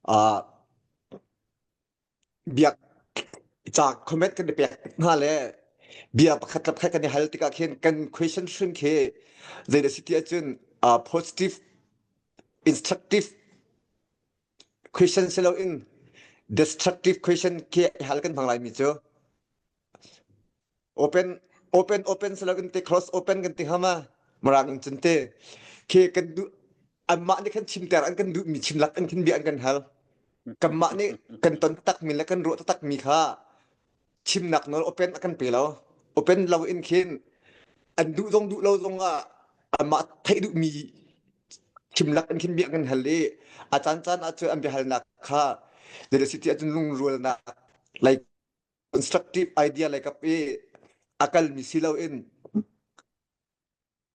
Ah biak ca comment kan i pek hna le bia pakhat le pakhat kan i hal tikah khin kan question hrun khi zei da si ti ahcun uh, positive instructive question si loin destructive question khi hal kan hmang laimi cu open open open selo kan te cross open kan te hama marang in cun te ke kan du an mah nih kan chim ter an kan duh mi chim lak an kan bia an kan hal kan mah nih kan ton tak mi le kan ruah tak mi kha chim nak no open akan pe lo open lo in khin an duh zong duh lo zong ah an mah thai duh mi chim lak an khin bia kan hal i a chan chan ah cu an bia hal nak kha the city a cun lung rual nak like constructive idea le kap i akalmi silo in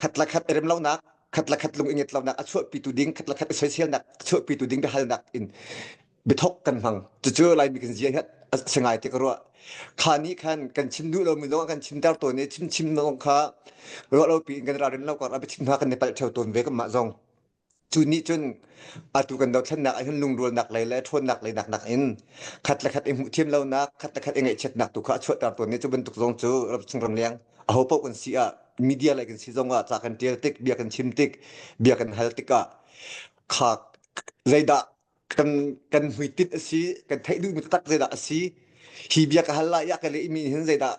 khat la khat erem lonak khat la khat lung inget lonak a chuahpitu ding khat la khat i soiselnak chuahpitu ding biahalnak in bithok kan hmang cucu laimi kan zia hiat singai te ka ruah kha ni khan kan chim du lo mi lo kan chim dar to ne chim chim no kha ro lo pi in kan ra ren lo kar a bi chim ha kan ne pal theu ton ve kam ma zong cu nih cun atu kan dothlennak ah hin lungrualnak lei le ṭhawnnak lei naknak in khat le khat i hmuh thiam lonak khat le khat i ngaihchiatnak tu kha a chuahter tawn i cu bantuk zong cu Chinram leng aho paoh kan si ah media lei kan si zong ah ca kan ṭial tik bia kan chim tik bia kan hal tikah kha zeidah kan kan hmuitinh a si kan theih duhmi taktak zeidah a si hi bia ka hal lai i a ka lehmi hin zeidah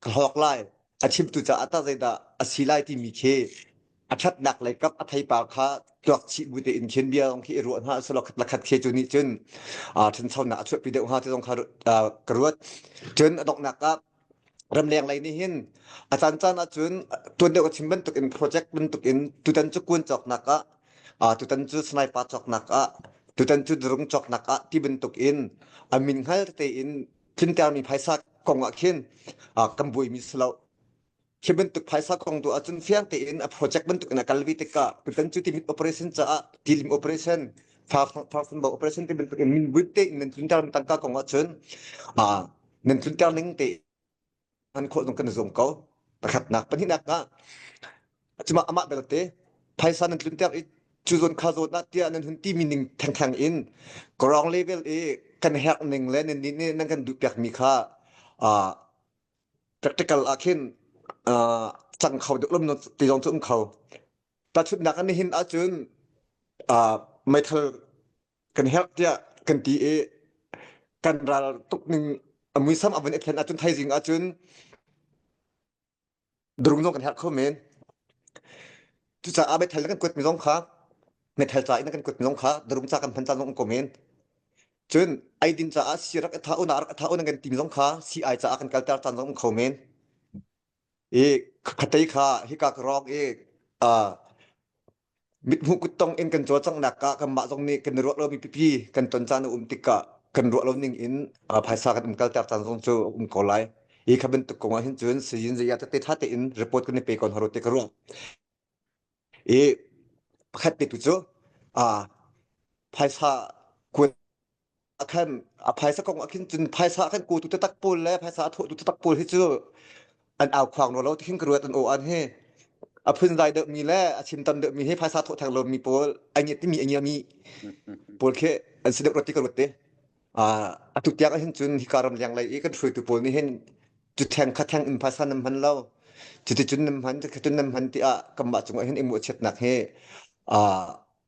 ka hlawk lai a chimtu caah tah zeidah a si lai timi khi a ṭhatnak lei kap a theipa kha tuak chih bu tein khin bia zong khi i ruah hna selaw khat la khat khi cu nih cun a ṭhanchonak a chuahpi deuh hnga ti zong kha ka ruat cun a donghnak ah ramleng lei nih hin a caan caan ah cun tuan deuh a chim bantuk in project bantuk in tutan cu kuan cawknak ah a tutan cu sniper cawknak ah tutan cu drone cawknak ah ti bantuk in a min hngal te in tlintermi phaisa kong ah khin kan buaimi si lo hi bantuk phaisa kong tu ahcun fiang tein a project bantuk in a kalvi tikah tutan cu timin operation caah tilim operation farsanbo operation ti bantuk in min butte in nan tlunter tangka kong ahcun nan tlunter ning te hman khawh zong kan i zuam ko. Pakhatnak, pahnihnak ah cuma amah belte phaisa nan tlunter i cu zawn kha zawn ah tiah nan hun timi ning thengtheng in ground level i kan herh ning le nan nih nih nan kan duh piak mi kha uh, practical ah khin uh, cang kho deuh lam ti zong cu um kho. Ta chutnak an hin ahcun uh, meithal kan help tiah kan ti i kan ral tuk ning a muisam a van i thlen ahcun thaizing ahcun durung zong kan herh kho men cucaah methel na kan kuat mi zong kha methel ca in na kan kuat mi zong kha durum ca kan hman ca zong kan ko men cun eidin caah si rak i tha una rak i tha una kan tim zong kha si ai caah kan kalter caan zong kan kho men i khatei kha hika ka rawng i Mithmuh kuttong in kan caw cang nak ah kanmah zong nih kan i ruah lomi pipi kan ton caan a um tikah kan ruah lo ning in uh, phaisa kan um kalter caan zong cu a um ko lai. Hi ka bantuk kong ah hin cun Sayin Zaya tete tha tein report kan i pe ko haro te ka ruah. I pakhat te tu cu uh, phaisa kuan a khan a phaisa kong a khin cun phaisa a khan ku tu tatak pawl le phaisa a thawh tu tatak pawl hi cu an au khoang no lo ti hin ka ruat an o an hi a phun dai deuh mi le a chim tam deuh mi hi phaisa thawh theng lo mi pawl ai ngiat ti mi ai ngia mi pawl khi an si deuh rot ti ka ruat ti a a tu tiang a hin cun hi karam liang lei i kan hruaitu pawl nih hin cu theng kha theng in phaisa nam hman lo cuti cun nam hman cu cun nam hman ti ah kamah cung ah hin i muah chiatnak hi a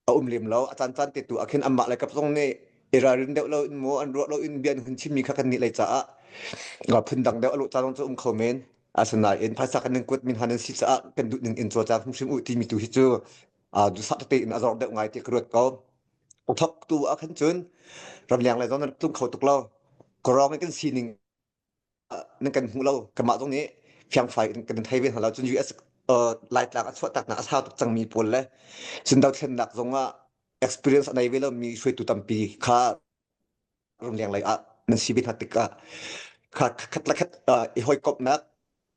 a um lem lo a caan caan te tu ah khin anmah le kap zong nih i ralrin deuh lo in maw an ruah lo in bia an hun chimmi kha kan nih lei caah phun dang deuh a luh caan cu um kho men asinain phaisa kan ning kuat min han si caah kan duh ning in cho ca hrimhrim u timi tu hi cu dusah te in a zor deuh ngai ti ka ruat ko thok tu a khan cun ramleng le zon tung kho tuk lo korong kan sining nan kan hmu lo kanmah zong nih fiangfai kan in thei ve hna lo cun US laitlak a chuahtaknak a sau tuk cangmi pawl le cun dothlennak zong ah experience a nei ve lomi hruaitu tampi kha runleng lei ah nan si ve hna tikah kha khatlakhat i hawikomhnak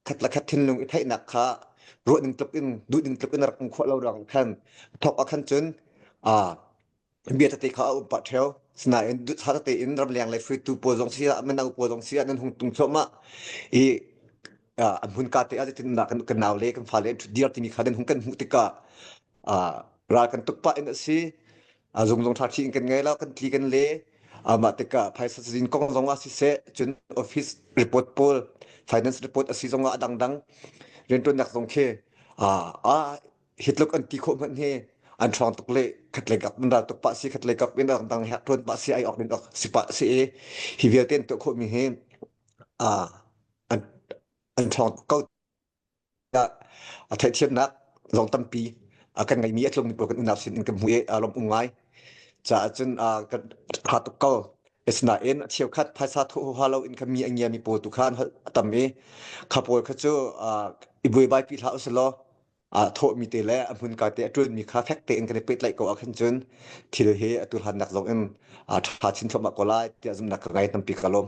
khat le khat thinlung i theihnak kha ruah ning tluk in duh ning tluk in a rak um khawh lo rang khan thok ah khan cun a bia tete kha a um pah theo sinain sa tete in ramleng le hruitu pawl zong si ah mino pawl zong si ah nan hung tung thluahmah i an hun ka te ah zetin nak kan nau le kan fa le an thut diar timi kha nan hung kan hmuh tikah ral kan tuk pah in a si a zung zung tha khi kan ngai la kan tli kan le amah tikah phaisa cazin kong zong ah siseh cun office report pawl finance report asi zong ah dangdang riantuannak zong khi a a hitluk an ti khawh hman he an trong tuk le khat le kap mandal tuk pa si khat le kap in dangdang hek tuan pa si ai ok din ok si pa si e hi vialte an to khawh mi he a an an trong kau a theihthiamnak zong tampi kan ngeimi a tlungmi pawl kan unau sin in kan hmuh i a lawmum ngai. Caah cun kan ha tuk ko. Asinain a cheukhat phaisa thohoha loin kha mi a ngiami pawl tu kha an holh a tam i kha pawl kha cu i buaibai pi hlah usilaw thawhmi te le a hmunka te a ṭulmi kha fek tein kan i pehtlaih ko ahkhin cun thil hi a tuhlannak zong in ṭha chin thluahmah ko lai tiah zumhnak ka ngei tampi ka lawm.